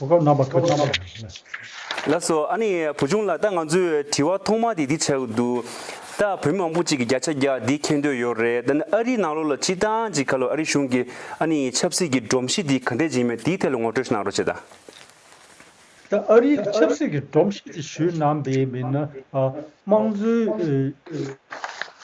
གོ་སྐབས་རྣམ་པ་ཁ་ཅིག་ཀྱང་ཡོད་ན། ལགས་སོ། ཨ་ནི་བུ་ཆུང་ལགས་ད་ང་ཚོས་དྲི་བ་ཐོག་མ་དེ་འདི་བྱ་གི་འདུག་ད་བོད་མི་མང་པོ་ཅིག་གི་བརྒྱ་ཆ་བརྒྱ་འདི་མཁྱེན་འདོད་ཡོད་རེད་ད་ནི་ཨ་རིའི་ནང་ལོགས་ལ་སྤྱི་བཏང་ཅིག་ག་ལོ་ཨ་རི་གཞུང་གི་ཨ་ནི་ཆབ་སྲིད་ཀྱི་སྒྲོམ་གཞི་འདི་ག་འདྲས་སྦྱིན་མེད་དེའི་ཐད་ལ་ངོ་སྤྲོད་གནང་རོགས་བྱེད་དང། ད་ཨ་རིའི་གི་ཆབ་སྲིད་ཀྱི་སྒྲོམ་གཞི་འདི་ཞུས་གནང་དེའི་མི་སྣ་དམངས་གཙོའི་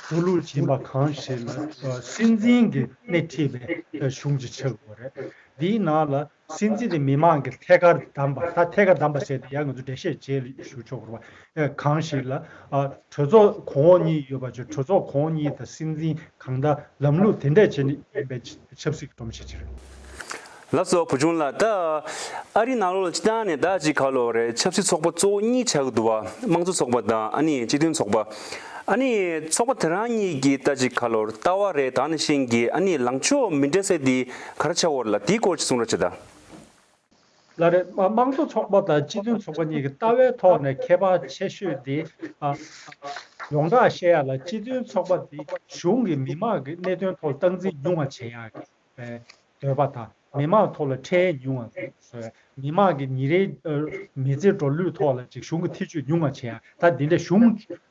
འགྲོ་ལུགས་སྦྱིན་པ་གང་ཞིག་ལ་སྲིད་འཛིན་གི་སྣེ་ཁྲིད་པའི་གཞུང་ཅིག་ཆགས་ཡོད་རེད། འདིའི་ནང་ལ་སྲིད་འཛིན་དེ་མི་དམངས་ཀྱིས་ཐད་ཀར་བདམས་པ་ད་ཐད་ཀར་བདམས་པ་བྱས་ཏེ་ཡང་ང་ཚོས་འགྲེལ་བཤད་བྱེད་ལས་ཞུ་ཆོག་གོ། གང་ཞིག་ལ། གྲོས་ཚོགས་གོང་འོག་གཉིས་ཡོད་པ་ཆོས་གྲོས་ཚོགས་གོང་འོག་གཉིས་དང་སྲིད་འཛིན་གང་དང་ལམ་ལུགས་དེ་འདྲས་བྱས་ནས་ཡིན་པའི་ཆབ་སྲིད་ཀྱི་སྒྲོམ་གཞི་ཅིག་རེད། ལབ་ཙོ་བུ་ཆུང་ལགས་ད། ཨ་རིའི་ནང་ལོགས་ལ་སྤྱི་བཏང་ནས་ཟླ་གཅིག་ག་ལོགས་རེད་ཆབ་སྲིད་ཚོགས་པ་གཙོ་བོ་གཉིས་ཆགས་ཀྱི་འདུག་བ་དམངས་གཙོ་ཚོགས་པ་དང་ཨ་ནི་སྤྱི་མཐུན་ཚོགས་པ། ཨ་ནི་ཚོགས་པ་དེ་རང་གཉིས་ཀྱིས་ཟླ་གཅིག་ག་ལོར་ལྟ་བ་རེད་ད་ནི་ཤེས་ཀྱི་ཨ་ནི་ལངས་ཕྱོགས་མི་འདྲ་ས་དེ། གར་འཆའ་བོར་ལ་དེའི་སྐོར་གྱི་གསུང་རབ་ཅི་དང། ལར་དམངས་གཙོ་ཚོགས་པ་དང་སྤྱི་མཐུན་ཚོགས་པ་གཉིས་ཀྱི་ལྟ་བའི་ཐོག་ནས་ཁྱད་པར་ཆེ་ཤོས་དེ། ཡོངས་གྲགས་བཤད་ཡག་ལ་སྤྱི་མཐུན་ཚོགས་པ་དེ་གཞུང་གིས་མི་མང་གི་གནད་དོན་ཐོག་སྟངས་འཛིན་ཉུང་བ་བྱེད་ཡག་པའི་འདོད་པ་དང་མི་མང་ཐོག་ལ་ཁྲལ་ཉུང་བ་བཟོ་ཡག་མི་མང་གི་ཉིན་རེའི་མི་ཚེ་འགྲོ་ལུས་ཐོག་ལ་ཅིག་གཞུང་གི་ཐེ་ཇུས་ཉུང་བ་བྱེད་ཡག་ད་འདི་འདྲ་གཞུང་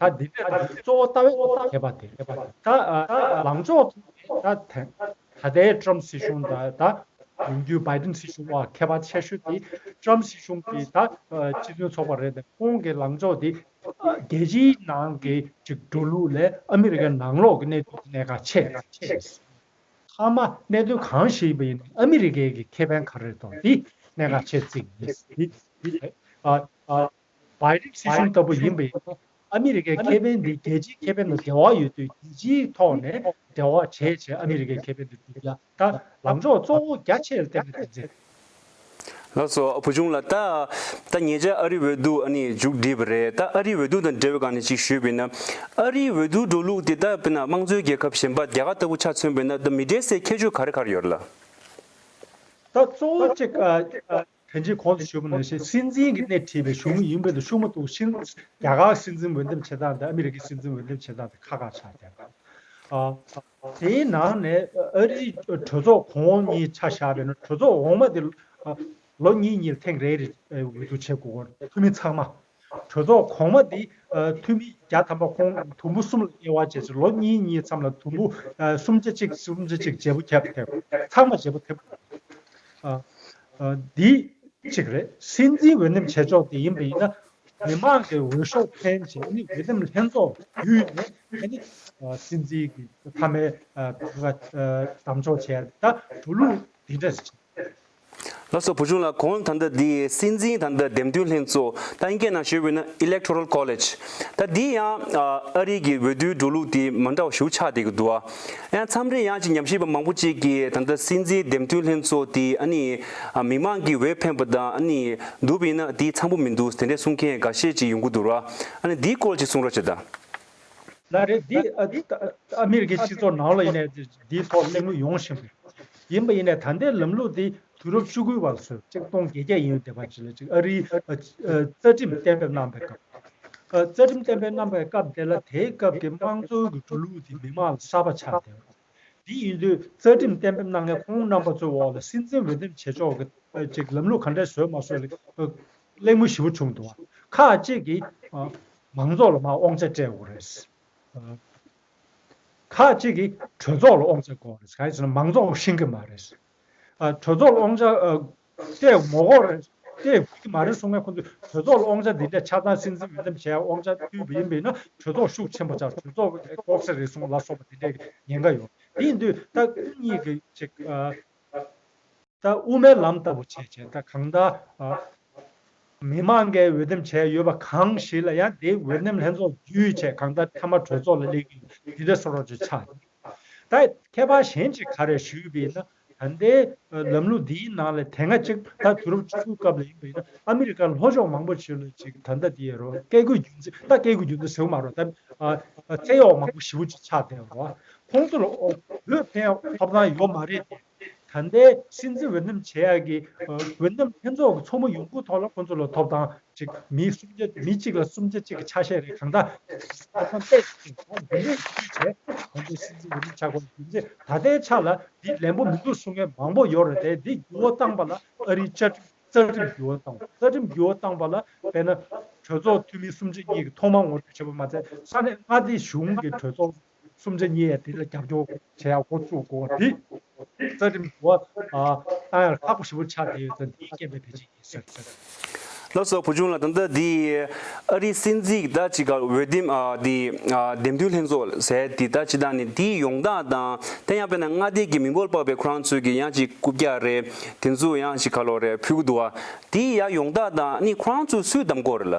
ད་འདི་འདྲས་ན་གཙོ་བོ་ལྟ་བས་ཐེག་པ་དེ་ད་ལངས་ཕྱོགས་ཐུག་ནས་ད་ཐེངས་ད་ལྟའི Trump སྲིད་གཞུང་དང་ད་ཡོང་རྒྱུའི Biden སྲིད་གཞུང་བར་ཁྱད་པར་ཆེ་ཤོས་དེ Trump སྲིད་གཞུང་གི་ད་སྤྱི་མཐུན་ཚོགས་པ་རེད་དེ་ཁོང་གི་ལངས་ཕྱོགས་དེ་རྒྱལ་སྤྱིའི་ནང་གི་ཅིག་འགྲོ་ལུགས་ལས་ཨ་མི་རི་ཀའི་ནང་ལོགས་ཀྱི་གནད་དོན་གྱི་གནད་འགག་ཆེ་ཞེས་ཟེར། ཐ་མ་གནད་དོན་གང་ཞིག་ཡིན་པ་ཡིན་ན་ཨ་མི་རི་ཀའི་གི་ཁེ་ཕན་ག་རེ་དང་དེ་གནད་འགག་ཆེ་བརྩིས་ངེས་ཡིན། བལ་རིགས་སྲིད་གཞུང་ལྟ་བུ་ཡིན་པས། ཨ་མི་རི་ཀའི་ཁེ་ཕན་འདི་རྒྱལ་སྤྱིའི་ཁེ་ཕན་ལ་འགལ་བ་ཡོད་དུས་རྒྱལ་སྤྱིའི་ཐོག་ནས་འབྲེལ་བ་བྱས་བྱས་ཨ་མི་རི་ཀའི་ཁེ་ཕན་དུ་འགྲུབ་རྒྱ་དང་ལངས་ཕྱོགས་གཙོ་བོ་རྒྱ་ཆེར་བསྟན་པའི་དོན་ཚན། ལགས་སོ་བུ་ཆུང་ལ་ད། ད་ངེད་ཅག་ཨ་རིའི་འོས་བསྡུ་ཨ་ནི་མཇུག་བསྒྲིལ་བ་རེད་ད་ཨ་རིའི་འོས་བསྡུ་དང་འབྲེལ་བའི་སྒང་ནས་ཅིག་ཞུས་པས་ན། ཨ་རིའི་འོས་བསྡུའི་འགྲོ་ལུགས་དེ་ད་བས་ན་དམངས་གཙོའི་རྒྱལ་ཁབ་གཞན་པ་རྒྱ་གར་ལྟ་བུ་ཆ་མཚོན་པས་ན་ད་མི་འབྲེལ་སའི་ཁྱད་ཆོས་ག་རེ་གར་ཡོད་རེད་ལགས། ད་གཙོ་བོ་གཅིག། དེ་རྗེས་གོང་དུ་ཞུས་པ་ནང་བཞིན་སྲིད་འཛིན་གྱི་སྣེ་ཁྲིད་པའི་གཞུང་དངུལ་ཡིན་པའི་འདུ་ཤེས་མ་གཏོགས་ཕྱིན་རྒྱ་གར་གྱི་སྲིད་འཛིན་འོས་འདེམས་བྱེད་སྟངས་དང་ཨ་མི་རི་ཀའི་སྲིད་འཛིན་འོས་འདེམས་བྱེད་སྟངས་དེ་ཁ་ཁ་ཆགས་ཆགས་རེད། དེའི་ནང་ནས་ཨ་རིའི་གྲོས་ཚོགས་གོང་འོག་གཉིས་ཆ་བཞག་པའི་ནང་གྲོས་ཚོགས་འོག་མ་དེ་ལོ་གཉིས་གཉིས་ལ་ཐེངས་རེ་རེ་འོས་བསྡུ་བྱེད་དགོས། འཐུས་མི་ཚང་མ་གྲོས་ཚོགས་གོང་མ་དེ་འཐུས་མི་བརྒྱ་ཐམ་པ་ཁོང་དུམ་བུ་གསུམ་ལ་དབྱེ་བ་འབྱེད་ཚེ་ལོ་གཉིས་གཉིས་མཚམས་ལ་དུམ་བུ་སུམ་བརྒྱ་གཅིག་སུམ་བརྒྱ་གཅིག་བརྗེ་པོ་ཁྱབ་ཐེབས་ཚང་མ་བརྗེ་པོ་ཐེབས་དགོས་རེད། འདི་གཅིག་རེད། སྲིད་འཛིན་འོས་འདེམས་བྱེད་ཕྱོགས་དེ་ཡིན་པ་ཡིན་ན། མི་མང་གི་འོས་ཤོག་འཕེན་བྱེད་ནི་འོས་འདེམས་ལྷན་ཚོགས་བརྒྱུད་ནས་ཕེན་ནི། སྲིད་འཛིན་གྱི་མཐའ་མའི་བདམས་ཕྱོགས་བྱས་ད་འགྲོ་ལུགས་དེ་འདྲ་རེད། ལ་སོགས་བུ་ཆུང་ལ་གོང་ལྟར་ཟླ་འདིའི་སྲིད་འཛིན་དང་ཟླ་འདེམས་དོན་ལྷན་གཙོ་ལྟ་མཁན་ནང་ཞུགས་དགོས་ན Electoral College ལྟ་འདི་ཡང་ཨ་རིའི་གི་འོས་བསྡུའི་འགྲོ་ལུགས་དེ་མ་འདྲ་བ་ཞུ་ཆགས་དེ་གི་འདུག་ཨ་མཚམས་རེ་ཡང་ཅིག་ཉམས་ཞིབ་པ་མང་པོ་ཅིག་གི་ད་ལྟ་སྲིད་འཛིན་འདེམས་དོན་ལྷན་གཙོ་དེ་ཨ་ནི་མི་མང་གི་འོས་འཕེན་པ་དང་ཨ་ནི་འདུག་པ་ཡིན་ན་དེ་ཚང་པོ་མི་འདུག་དེ་འདྲས་གསུང་མཁན་འགའ་ཤས་ཅིག་ཡོང་གི་འདུག་ར་ཨ་ནི་འདི་སྐོར་ཅིག་གསུང་རོགས་བྱེད་ད། ལ་རེད་འདི་ཨ་མི་རི་ཀའི་སྤྱི་ཚོགས་ནང་ལ་ཡིན་ནའི་འདི་ཐོག་གླེང་མོལ་ཡོང་བཞིན་པའི། ཡིན་པ་ཡིན་ནས་ད་ལྟའི་ལམ་ལུགས་འདི་དུས་རབས་བཅུ་དགུའི་བར་སོན་གཅིག་སྟོང་བརྒྱད་བརྒྱ་ཡིན་ཡོད་དེ་བ་ཅི་ལ་ཅིག་ཨ་རིའི་རྩ་ཁྲིམས་གཏན་འབེབས་གནང་པའི་སྐབས། རྩ་ཁྲིམས་གཏན་འབེབས་གནང་པའི་སྐབས་དེ་ལ་དེའི་སྐབས་ཀྱི་དམངས་གཙོའི་གི་འགྲོ་ལུགས་འདི་མི་དམངས་ལ་གསར་པ་ཆགས་བསྡད་པ། དེ་ཡིན་དུས་རྩ་ཁྲིམས་གཏན་འབེབས་གནང་མཁན་ཁོང་རྣམ་པ་ཚོའི་འོག་ལ་སྲིད་འཛིན་འོས་འདེམས་བྱེད་ཕྱོགས་གི་ཅིག་ལམ་ལུགས་ག་འདྲས་བཟོས་མ་བཟོས་ལ་གླེང་མོལ་ཞིབ་པོ་བྱུང་འདུག་བ་ཁག་ཅིག་གིས་མང་ཚོགས་ལ་མ་དབང་ཆ་སྤྲད་འོ་རེད། ཁག་ཅིག་གིས་གྲོས་ཚོགས་ལ་དབང་ཆ་བསྐོར་རེས་ག་ཡེ་ཟེར་ན་མང་ཚོགས་ལ་ཤིང་གི་མ་རེས། གྲོས་ཚོགས་ལ་དབང་ཆ་སྟེ་ངོ་བསྐོར་རེས་སྟེ་དགོས་ཀྱི་མ་རེས་གསུངས་ན་ཁོང་ཚོས་གྲོས་ཚོགས་ལ་དབང་ཆ་འདི་འདྲ་ཆ་ཚང་སྲིད་འཛིན་འོས་འདེམས་བྱས་དབང་ཆ་བཏུས་པ་ཡིན་པས་ན་གྲོས་ཚོགས་ཤུགས་ཆེན་པོ་ཆགས་གྲོས་ཚོགས་ལ་བསྐོར་ས་རེ་ཟུང་ལ་སོགས་པ་དེ་འདྲའི་ཉེན་ཁ་ཡོད་དེ་ཡིན་དུས་ད་སྐུ་ཉིད་ཀྱིས་ཅིག་ལྟ་དབུ་མའི་ལམ་ལྟ་བུ་བྱས་བྱས་ད་གང་ལྟར། མི་མང་གས་འོས་འདེམས་བྱས་ཡོད་པ་གང་ཞིག་ལ་ཡང་དེའི་འོས་འདེམས་ལྷན་ཚོགས་བརྒྱུད་ཆད་གང་ལྟར་མཐའ་མ་གྲོས་ཚོགས་ལ་སླེབས་ཀྱི་ཡོད་དེ་འདྲ་སོགས་རོགས་བྱས་ཆགས་ཡིན། ད་ཁྱད་པར་གཞན་གཅིག་ག་རེ་ཞུས་པ་ཡིན་ན་ད་ལྟའི་ལམ་ལུགས་འདིའི་ནང་ལ་དེ་སྔ་གཅིག་ད་དུས་རབས་བཅུ་དགུའི་སྐབས་ལ་ཡིན་པ་ཡིན་ན་ཨ་མི་རི་ཀར་ལྷོ་ཕྱོགས་མང་པོ་ཞིག་ལ་ཅིག་ད་ལྟ་དེའི་རོགས་སྐད་དགོས་རྒྱུ་མཚན་ད་སྐད་དགོས་རྒྱུ་མཚན་ཟེར་བ་མ་རོགས་ད་ཚེ་གཡོག་མང་པོ་ཞི་བོ་ཅིག་ཆགས་བསྡད་པ་རོགས། ཁོང་ཚོ་ལ་ཨོ་བོད་ཕན་ཡོད་ཐོབ་ཐང་ཡོད་མ་རེད་དེ། ད་ལྟའི་སྲིད་འཛིན་འོས་འདེམས་བྱེད་ཡག་གི་འོས་འདེམས་ལྷན་ཚོགས་ཀྱི་ཚོགས་མི་ཡོང་ཁུངས་ཐོག་ལ་ཁོང་ཚོ་ལ་ཐོབ་ཐང་གཅིག་མི་སུམ་བརྒྱ་མི་གཅིག་ལ་སུམ་བརྒྱ་གཅིག་གི་ཆ་ཤས་རེ་གང་འདྲ་ཐོབ་ཐང་སྤྲད་ཡོད་ཅེས་ད་དུང་ལན་ཞིབ་འཇུག་བྱས་ད་ལྟའི་སྲིད་འཛིན་འོས་འདེམས་ཆགས་པ་རྒྱུ་མཚན་ད་ལྟའི་ཆ་ལ་འདི་ལན་པོ་མི་འདུག་གསུང་མཁན་མང་པོ་ཡོད་རེད་དེ་འདི་བརྒྱུད་བོ་བཏང་པ་ལ་ཨ་རིའི་བཅའ་ཁྲིམས་རྩ་ཁྲིམས་བརྒྱུད་བོ་བཏང་བ་རྩ་ཁྲིམས་བརྒྱུད་བོ་བཏང་པ་ལ་དཔེར་ན་གྲོས་ཚོགས་འཐུས་མི་སུམ་བརྒྱ་གཉིས་ཀྱི་ཐོག་མ་ངོ་སྤྲོད་བྱས་པ་མ་ཚད་ས་ནས་མངའ་སྡེའི་གཞུང་གི་གྲོས་ཚོགས་གསུམ་ཆ་གཉིས་ཡས་དེ་ལ་རྒྱབ་སྐྱོར་བྱེད་ཡག་འགོ་བཙུགས་དགོས་པ་དེ་རྩ་ཁྲིམས་འགོ་བཏང་ཡག་ཁག་པོ་ཞིབ་པོ་ཆགས་དེ་ཡོད་ཚད་འདིའི་སྐད་འབོད་བེད་སྤྱད་ཡིན་ཟེར་བྱས། ལ་སོགས་བུ་ཆུང་ལ་ད་ལྟ་འདི་ཨ་རིའི་སྲིད་འཛིན་གྱི་ལྟ་ཅི་གར་འོས་འདེམས་འདི་འདེམས་ཐོན་ལྷན་ཚོགས་ཟེར་དེ་ལྟ་ཅི་དང་ནི་དེའི་ཡོང་སྟངས་དང་དེ་ཡང་དཔེར་ན་མངའ་སྡེ་གྱི་མི་འབོར་དཔག་པའི་ཁོ་རང་ཚོས་ཀྱི་ཡང་ཅིག་རྐུབ་བཀྱག་རེ་དེ་ཚོས་ཡང་ཅིག་ཁ་ལོ་རེ་ཕུལ་གི་འདུག་ཨ་དེའི་ཡ་ཡོང་སྟངས་དང་ནི་ཁོ་རང་ཚོས་སུས་བདམས་དགོས་རེད་ལ།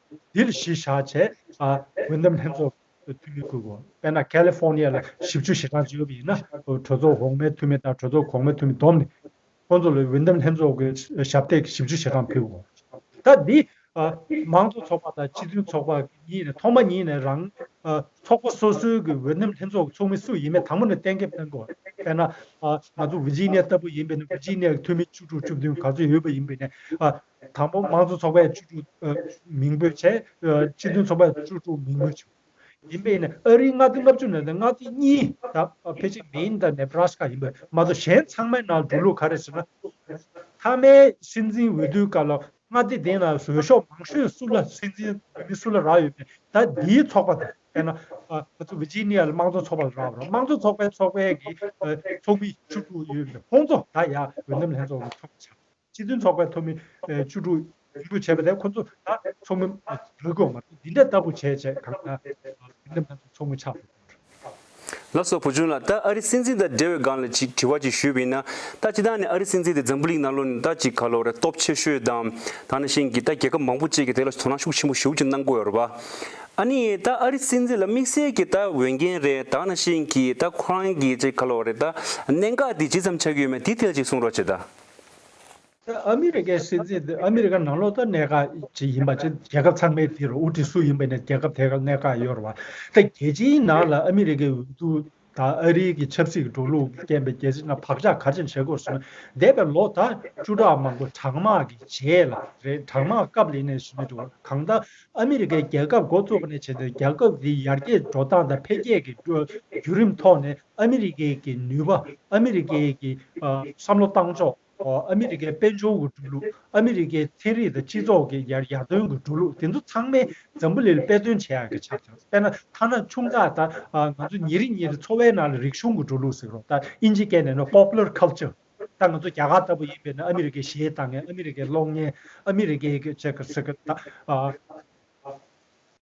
འདིར་གཞི་བཞག་ཆེད་དགོན་འདེམས་ལྷན་ཚོགས་ཀྱི་འཐུས་མི་དགོས། དཔེར་ན་ཀལི་ཧྥོར་ནི་ཡ་ལ་བཞི་བཅུ་ཞེ་གྲངས་བཅུ་ཡོད་པ་ཡིན་ན་གྲོས་ཚོགས་འོག་མའི་འཐུས་མི་དང་གྲོས་ཚོགས་གོང་མའི་འཐུས་མི་བསྡོམས་ནས་ཁོང་ཚོ་ལ་འོས་འདེམས་ལྷན་ཚོགས་ཀྱི་ཞབས་སྟེགས་བཞི་བཅུ་ཞེ་གྲངས་ཕུལ་བའོ། ད་འདི་མང་གཙོ་ཚོགས་པ་དང་སྤྱི་མཐུན་ཚོགས་པ་གཉིས་ནས་ཐོག་མ་ཉིད་ནས་རང་ཚོགས་པ་སོ་སོའི་གི་འོས་འདེམས་ལྷན་ཚོགས་ཀྱི་ཚོགས་མི་སུ་ཡིན་མིན་དང་པོ་ནས་གཏན་འཁེལ་གནང་དགོས། དཔེར་ན་ང་ཚོ་ཝི་ཇི་ནི་ཡ་ལྟ་བུ་ཡིན་པས་ན་ཝི་ཇི་ནི་ཡའི་འཐུས་མི་བཅུ་དྲུག་བཅུ་བདུན་ག་ཚོད་ཡོད་པ་ཡིན་པས་ན་དང་པོ་དམངས་གཙོ་ཚོགས་པའི་བཅུ་དྲུག་མིང་འབོད་བྱས། སྤྱི་མཐུན་ཚོགས་པའི་བཅུ་དྲུག་མིང་འབོད་བྱས། ཡིན་པས་ནི་ཨ་རིའི་མངའ་སྡེ་ལྔ་བཅུ་ནས་མངའ་སྡེ་གཉིས་དང་ཕལ་ཆེར་མེན་དང་ནེ་བྲ་སི་ཀ་ཡིན་པ་མ་གཏོགས་གཞན་ཚང་མའི་ནང་འགྲོ་ལུགས་ག་རེ་ཟེར་ན། མཐའ་མའི་སྲིད་འཛིན་འོས་བསྡུའི་སྐབས་ལ་མངའ་སྡེ་དེ་ན་བཟོད་ཤོག་མང་ཤོས་སུ་ལ་སྲིད་འཛིན་བོད་མི་སུ་ལ་རག་ཡོད་པས་ད་འདིའི་ཚོགས་པ་དང་དཔེར་ན། ང་ཚོ་བི་ཇི་ནི་ཡ་ལ་དམངས་གཙོ་ཚོགས་པ་ལ་རག་པ་རང་དམངས་གཙོ་ཚོགས་པའི་ཚོགས་པའི་གི་ཚོགས་མི་བཅུ་དྲུག་ཡོད་པའི་ཧོང་ཙོ་ད་ཡ་འོས་འདེམས་ལྷན་ཚོགས་ལ་ཚོགས་པ་ཆགས། སྤྱི་མཐུན་ཚོགས་པའི་ཐོག་མི་བཅུ་དྲུག་འབྱུང་འགྱུར་བྱས་པ་དེ་ཁོ་ཚོ་ལ་ཚོགས་མི་རེ་དགོས་མ་རེད་འདི་འདྲ་ལྟ་བུ་བྱས་བྱས་གང་ལྟར་དེ་འདྲ་མེད་ཚུལ་ཚོགས་མི་ཆགས་དགོས་དོན་རེད། ལགས་སོ་བུ་ཆུང་ལགས་ད་ཨ་རི་སྲིད་འཛིན་དང་འབྲེལ་བའི་སྒང་ལ་ཅིག་དྲི་བ་ཅིག་ཞུས་པ་ཡིན་ན་ད་སྤྱི་དང་ནས་ཨ་རི་སྲིད་འཛིན་དེ་འཛམ་བུ་གླིང་ནང་ལོ་ནས་ད་ཅིག་ག་ལོ་རེ་སྟོབས་ཆེ་ཤོས་དང་དང་ནས་ཤིང་གི་ད་རྒྱལ་ཁབ་མང་པོ་བཅས་ཀྱི་དེ་ལ་དོ་སྣང་ཤུགས་ཆེན་པོ་ཞུགས་ཅིག་གནང་དགོས་ཡོད་རེད་པ་ཨ་ནི་ད་ཨ་རི་སྲིད་འཛིན་ལ་དམིགས་བསལ་གྱི་ད་འོས་འགན་རེ་དང་ནས་ཤིང་གི་ད་ཁོ་རང་གི་ཅིག་ག་ལོ་རེ་ད་གནད་འགག་དེ་ཇི་ཙམ་ཆགས་ཀྱི་ཡོད་མེད་དེ་ཐད་ཅིག་གསུང་རོགས་བྱེད་ད། ཨ་མི་རི་ཀའི་སྲིད་འཛིན་དེ་ཨ་མི་རི་ཀ་ནང་ལོག་ལྟར་གནད་འགག་ཅིག་ཡིན་པ་ཆེ། རྒྱལ་ཁབ་ཚང་མའི་དེ་རུ་དབུ་ཁྲིད་སུ་ཡིན་པ་ནི་རྒྱལ་ཁབ་དེ་གར་གནད་འགག་ཡོད་རུང་བ། ད་རྒྱལ་སྤྱིའི་ནང་ལ་ཨ་མི་རི་ཀའི་འོས་བསྡུ་དང་ཨ་རིའི་གི་ཆབ་སྲིད་ཀྱི་འགྲོ་ལུགས་རྐྱེན་པས་རྒྱལ་སྲིད་ནང་བག་ཆགས་ག་ཅིར་བྱེད་དགོས་བཟོ་ན་འདས་པའི་ལོ་ད་བཅུ་ཕྲག་མང་པོ་གྲང་དམག་གི་རྗེས་ལ་རེད་གྲང་དམག་སྐབས་ལས་གནས་ཞིག་མེད་འགྲོ་གང་ལྟར་ཨ་མི་རི་ཀའི་རྒྱལ་ཁབ་འགོ་བཙུགས་པ་ནས་བྱས་ཏེ་རྒྱལ་ཁབ་དེའི་ཡར་རྒྱས་འགྲོ་སྟངས་དང་འཕེལ་རྒྱས་ཀྱི་བརྒྱུད་རིམ་ཐོག་ནས་ཨ་མི་རི་ཀའི་ཀྱི་ནུས་པ་ཨ་མི་རི་ཀའི་ཀྱི་བསམ་བློ་བཏང་ཕྱོགས་ཨ་མི་རི་ཀའི་དཔལ་འབྱོར་འགོ་འགྲོ་ལུགས་ཨ་མི་རི་ཀའི་ཚན་རིག་དང་སྤྱི་ཚོགས་ཀྱི་ཡར་ཐོན་འགོ་འགྲོ་ལུགས་དེ་ཚོ་ཚང་མའི་འཛམ་བུ་ལེ་ལ་དཔེ་སྟོན་བྱེད་ཡག་གི་ཆ་ཚང་དཔེར་ན་ཐ་ན་ཆུང་དག་ད་ང་ཚོ་ཉེ་རིང་ཉེ་རིང་འཚོ་བའི་ནང་ལ་རིག་གཞུང་འགོ་འགྲོ་ལུགས་ཟེར་རོ་ད་ཨིན་ཇི་སྐད་ནས་ནོ Popular Culture ད་ང་ཚོ་རྒྱ་གར་ལྟ་བུ་ཡིན་པའི་ནང་ཨ་མི་རི་ཀའི་གཞས་གཏང་མཁན་ཨ་མི་རི་ཀའི་གློག་བརྙན་ཨ་མི་རི་ཀའི་ཀྱི་ཆེ་གི་སེ་གི་ད།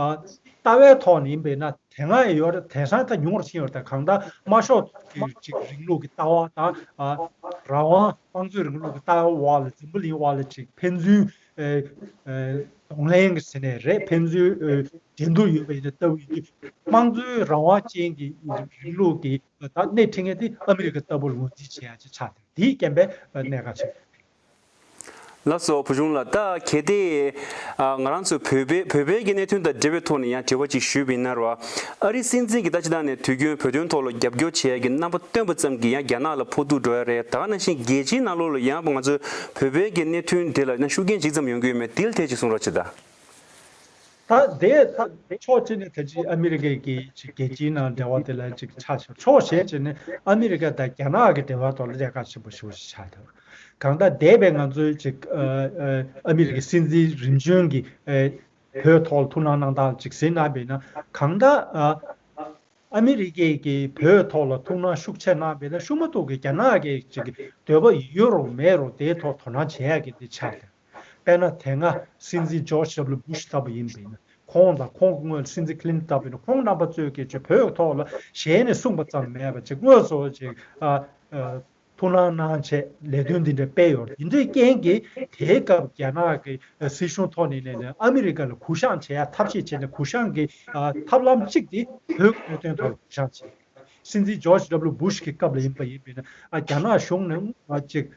ལྟ་བའི་ཐོག་ནས་ཡིན་པས་ན་དེ་སྔ་ཡི་ཡོ་རི་དེང་སང་ཐལ་ཉུང་བར་ཕྱིན་ཡོད་དང་གང་ལྟར་དམར་ཤོག་གི་ཅིག་རིང་ལུགས་ཀྱི་ལྟ་བ་དང། རང་དབང་དམངས་གཙོའི་རིང་ལུགས་ཀྱི་ལྟ་བའི་དབར་ལ་འཛིང་པོ་ལིང་དབར་ལ་ཅིག་ཕན་ཚུན་གདོང་ལེན་གྱི་ཟེར་ནས་རེད་ཕན་ཚུན་འགྲན་བསྡུར་ཡོད་པའི་ལྟ་བུ་ཡིན་དུས་དམངས་གཙོའི་རང་དབང་ཅན་གྱི་རིང་ལུགས་ཀྱི་སྣེ་ཁྲིད་མཁན་དེ་ཨ་མི་རི་ཀ་ལྟ་བུར་ངོས་འཛིན་བྱེད་ཡ་ཆེ་ཆགས་ཐལ་དེའི་རྐྱེན་པས་གནད་འགག་ཆེ་ཤོས་རེད། ལ་སོགས་བུ་ཆུང་ལ་ལྟ་གལ་ཏེ། ང་རང་ཚོས་བོད་པའི་བོད་པའི་གནད་དོན་དང་འབྲེལ་བའི་ཐོག་ནས་ཡང་དྲི་བ་གཅིག་ཞུས་པ་ཡིན་ན། ཨ་རིའི་སྲིད་འཛིན་གྱི་ལྟ་ཅི་ཐང་ནས་དུས་རྒྱུན་བོད་དོན་ཐོག་ལ་རྒྱབ་སྐྱོར་བྱེད་ཡ་གི་རྣམ་པ་སྟོན་པ་ཙམ་གྱིས་ཡང་རྒྱ་ནག་ལ་ཕོག་ཐུག་འགྲོ་ཡ་རེད་ད་ནང་བཞིན་རྒྱལ་སྤྱིའི་ནང་ལོགས་ལ་ཡང་ང་ཚོའི་བོད་པའི་གི་གནད་དོན་དེ་ལ་ཡང་ཤུགས་རྐྱེན་ཇི་ཙམ་ཡོང་གི་ཡོད་མེད་དེལ་ཐད་ཅིག་གསུང་རོགས་བྱེད་ད། ད་དེ་ཕྱོགས་གཅིག་ནས་ད་ཅིག་ཨ་མི་རི་ཀས་ཀྱིས་ཅིག་རྒྱལ་སྤྱིའི་ནང་འབྲེལ་བ་དེ་ལ་ཅིག་ཆ་བཞག་ཕྱོགས་གཞན་གཅིག་ནས་ཨ་མི་རི་ཀ་དང་རྒྱ་ནག་གི་འབྲེལ་བ་ཐོག་ལ་ལས་ཀ་ཆེན་པོ་ཞུ་ཞིག་བྱ་ཐུབ། གང་ལྟར་འདས་པའི་ང་ཚོའི་ཅིག་ཨ་མི་རི་ཀའི་སྲིད་འཛིན་རིམ་བྱོན་གྱིས་བོད་ཐོག་ལ་ཐུགས་སྣང་གནང་སྟངས་ཅིག་ཟིན་གནང་བས་ན་གང་ལྟར་ཨ་མི་རི་ཀས་ཀྱིས་བོད་ཐོག་ལ་ཐུགས་སྣང་ཤུགས་ཆེ་གནང་བས་ན་ཤུགས་མ་ཐུག་གི་རྒྱ་ནག་གིས་ཅིག་འདོད་པ་ཡོད་རུང་མེད་རུང་དེའི་ཐོག་དོ་སྣང་བྱེད་ཡག་གི་འདི་ཆ་ལྟར། དཔེར་ན་དེ་སྔ་སྲིད་འཛིན་ཇོར་ཞབས་ལུ་བུ་ཤི་ལྟ་བུ་ཡིན་པས་ན་ཁོང་དང་ཁོང་གི་སྔོན་སྲིད་འཛིན་ཁི་ལིན་ཏི་ལྟ་བུ་ཡིན་ན་ཁོང་རྣམ་པ་གཙོས་སྐད་ཆ་བོད་ཐོག་ལ་ཞལ་ནས་གསུངས་པ་ཙམ་མེད་པར་ཅིག་དངོས་སུ་ཅིག་ཐུགས་སྣང་གནང་ཆེད་ལས་དོན་འདི་འདྲ་སྤེལ་ཡོད་དེ་འདྲའི་རྐྱེན་གྱིས་དེའི་སྐབས་རྒྱ་ནག་གི་སྲིད་གཞུང་ཐོག་ནས་ནས་ནས་ཨ་མི་རི་ཀ་ལ་གུ་བཤངས་བྱེད་ཡ་ཐབས་ཤེས་བྱས་ནས་གུ་བཤངས་ཀྱི་ཐབས་ལམ་གཅིག་དེ་བོད་གནད་དོན་ཐོག་ལ་གུ་བཤངས་བྱེད་སྲིད་འཛིན་ཇོར་ཞབས་ལུ་བུ་ཤི་ཀྱི་སྐབས་ལ་ཡིན་པ་ཡིན་པས་ན་རྒྱ་ནག་གཞུང་ནས་ཅིག་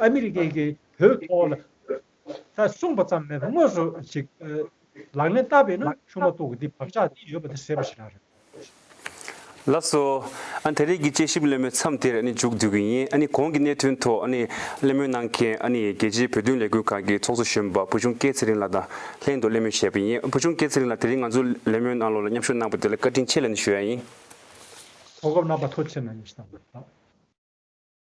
ཨ་མི་རི་ཀས་ཀྱིས་བོད་ཐོག་ལ་ད་གསུངས་པ་ཙམ་མེད་པར་དངོས་སུ་ཞིག་ལག་ལེན་བསྟར་བས་ན་ཆུང་མ་ཏོག་གི་འདི་བག་ཆགས་འདི་ཡོད་པ་འདི་ཟེར་བ་ཞིག་རག་རེད། ལབ་སོ། ཨ་དེ་རིང་གི་དཔྱད་ཞིབ་གླེང་མོལ་མཚམས་དེར་ཨ་ནི་འཇུག་འདོད་ཀྱི་ཡིན་ཨ་ནི་གོང་གི་གནད་དོན་ཐོག་ཨ་ནི་གླེང་མོལ་གནང་མཁན་ཨ་ནི་རྒྱལ་སྤྱིའི་བོད་དོན་ལས་འགུལ་ཁང་གི་ཚོགས་གཙོ་གཞོན་པ་བུ་ཆུང་སྐེ་ཚེ་རིང་ལགས་དང་ལྷན་དུ་གླེང་མོལ་བྱས་པ་ཡིན་བུ་ཆུང་སྐེ་ཚེ་རིང་ལགས་དེ་རིང་ང་ཚོ་གླེང་མོལ་གནང་ལོག་ལ་མཉམ་ཞུགས་གནང་པ་དེ་ལ་བཀའ་དྲིན་ཆེ་ལན་ཞུ་ཡ་ཡིན། གོ་སྐབས་གནང་བ་ཐོག་ཆེ་ནང་ཡོད་ཞེས་དང།